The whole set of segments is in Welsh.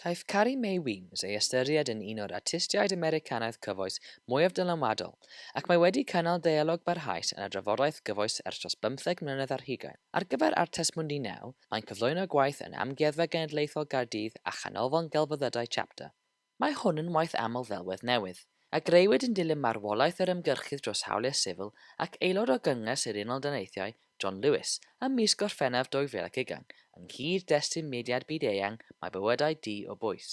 Caiff Carrie Mae Weems ei ystyried yn un o'r artistiaid Americanaidd cyfoes mwyaf dylanwadol, ac mae wedi cynnal deialog barhaus yn y drafodaeth gyfoes ers dros bymtheg mlynedd ar hugain. Ar gyfer Artes Mundi Now, mae'n cyflwyno gwaith yn Amgueddfa Genedlaethol Gaerdydd a Chanolfan Gelfyddydau Chapter. Mae hwn yn waith aml ddelwedd newydd, a greuwyd yn dilyn marwolaeth yr ymgyrchydd dros hawliau sifil ac aelod o Gynges yr Unol Daleithiau, John Lewis, ym mis Gorffennaf 2020, yng nghyd-destun mudiad byd-eang Mae Bywydau Dy o Bwys.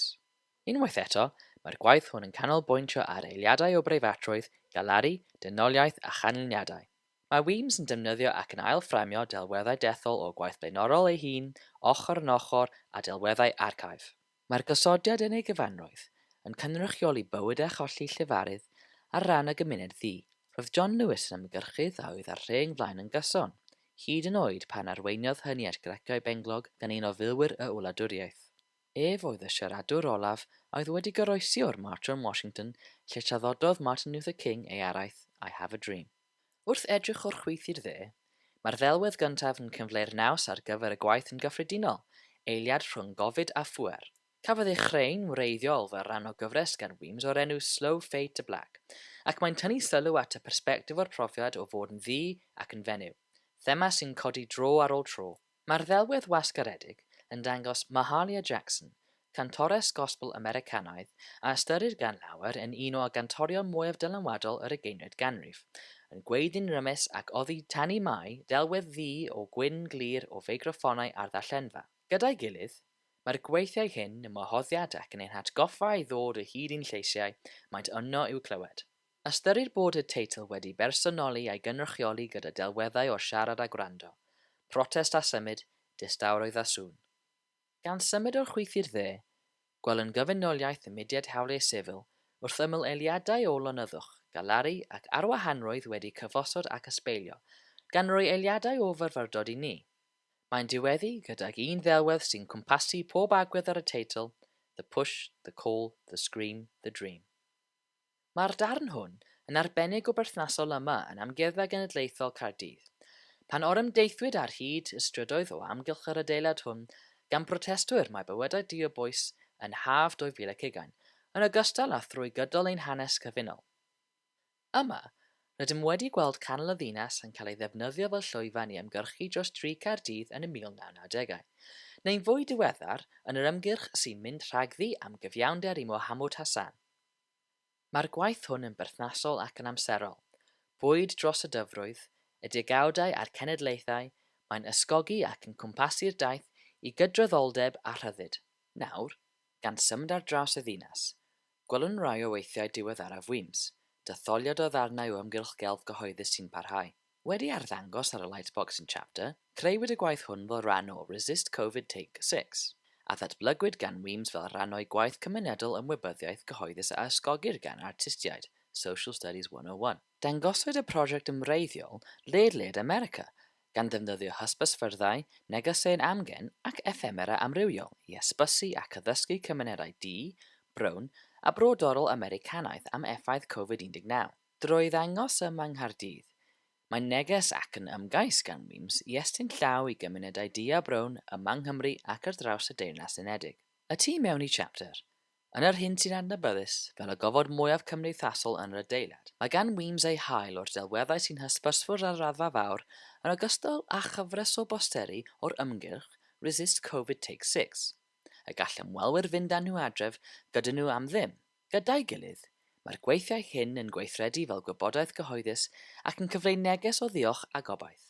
Unwaith eto, mae'r gwaith hwn yn canolbwyntio ar eiliadau o breifatrwydd, galaru, dynoliaeth a chanlyniadau. Mae WIMS yn defnyddio ac yn ail-fframio delweddau dethol o gwaith blaenorol ei hun, ochr yn ochr â delweddau archif. Mae'r gosodiad yn ei gyfanrwydd yn cynrychioli bywyd a cholli llefarydd ar ran y gymuned ddu. Roedd John Lewis yn ymgyrchydd a oedd â'r rheng flaen yn gyson, hyd yn oed pan arweiniodd hynny at graciau benglog gan un o filwyr y wladwriaeth. Ef oedd y siaradwr olaf a oedd wedi goroesi o'r March on Washington lle traddododd Martin Luther King ei araith I Have a Dream. Wrth edrych o'r chwith i'r dde, mae'r ddelwedd gyntaf yn cyfleu'r naws ar gyfer y gwaith yn gyffredinol, eiliad rhwng gofid a phŵer. Cafodd ei chreu'n wreiddiol fel rhan o gyfres gan Weems o'r enw Slow Fade to Black, ac mae'n tynnu sylw at y persbectif o'r profiad o fod yn ddu ac yn fenyw, thema sy'n codi dro ar ôl tro. Mae'r ddelwedd wasgaredig yn dangos Mahalia Jackson, cantores gospel Americanaidd a ystyrir gan lawer yn un o gantorion mwyaf dylanwadol yr ugeinfed ganrif, yn gweiddi'n rymus ac oddi tan'i mai delwedd ddu o gwyn glir o feicroffonau ar ddarllenfa. Gyda'i gilydd, mae'r gweithiau hyn yn wahoddiad ac yn ein hatgoffa i ddod o hyd i'n lleisiau, maent yno i'w clywed. Ystyrir bod y teitl wedi bersonoli a'i gynrychioli gyda delweddau o siarad a gwrando, protest a symud, distawrwydd a sŵn. Gan symud o'r chwith i'r dde, gwell yn gyfunoliaeth y mudiad hawliau sifil wrth ymyl eiliadau o lonyddwch, galaru ac arwahanrwydd wedi cyfosod ac ysbeilio, gan roi eiliadau o fyfyrdod i ni. Mae'n diweddu gydag un ddelwedd sy'n cwmpasu pob agwedd ar y teitl, The push, the call, the scream, the dream. Mae'r darn hwn yn arbennig o berthnasol yma yn Amgueddfa Genedlaethol Caerdydd. Pan orymdeithwyd ar hyd y strydoedd o amgylch yr adeilad hwn gan brotestwyr mae bywydau du o bwys yn haf 2020, yn ogystal â thrwy gydol ein hanes cyfunol. Yma, rydym wedi gweld canol y ddinas yn cael ei ddefnyddio fel llwyfan i ymgyrchu dros dri Caerdydd yn y 1990au, neu'n fwy diweddar, yn yr ymgyrch sy'n mynd rhagddi am gyfiawnder i Mohamud Hassan. Mae'r gwaith hwn yn berthnasol ac yn amserol. Bwyd dros y dyfrwydd, y degawdau a'r cenedlaethau, mae'n ysgogi ac yn cwmpasu'r daith i gydraddoldeb a rhyddid. Nawr, gan symud ar draws y ddinas, gwelwn rai o weithiau diweddaraf Wîms, detholiad o ddarnau o ymgyrch gelf gyhoeddus sy'n parhau. Wedi arddangos ar y Lightboxing Chapter, creuwyd y gwaith hwn fel rhan o Resist Covid Take Six, a ddatblygwyd gan Weems fel rhan o'i gwaith cymunedol ymwybyddiaeth gyhoeddus a ysgogir gan artistiaid, Social Studies 101. Dangoswyd y prosiect yn wreiddiol ledled America, gan ddefnyddio hysbysfyrddau, negeseuon amgen ac effemera amrywiol i hysbysu ac addysgu cymunedau du, brown a brodorol Americanaidd am effaith Covid 19. Drwy ddangos ym Mhang Nghaerdydd, mae'n neges ac yn ymgais gan Weems i estyn llaw i gymunedau du a brown ym Mhang Nghymru ac ar draws y Deyrnas Unedig. Y tu mewn i Chapter, yn yr hyn sy'n adnabyddus fel y gofod mwyaf cymdeithasol yn yr adeilad, mae gan Weems ei hail o'r delweddau sy'n hysbysfwrdd ar raddfa fawr yn ogystal â chyfres o bosteri o'r ymgyrch Resist Covid Take Six, y gall ymwelwyr fynd â nhw adref gyda nhw am ddim. Gyda'i gilydd, mae'r gweithiau hyn yn gweithredu fel gwybodaeth gyhoeddus ac yn cyfleu neges o ddiolch a gobaith.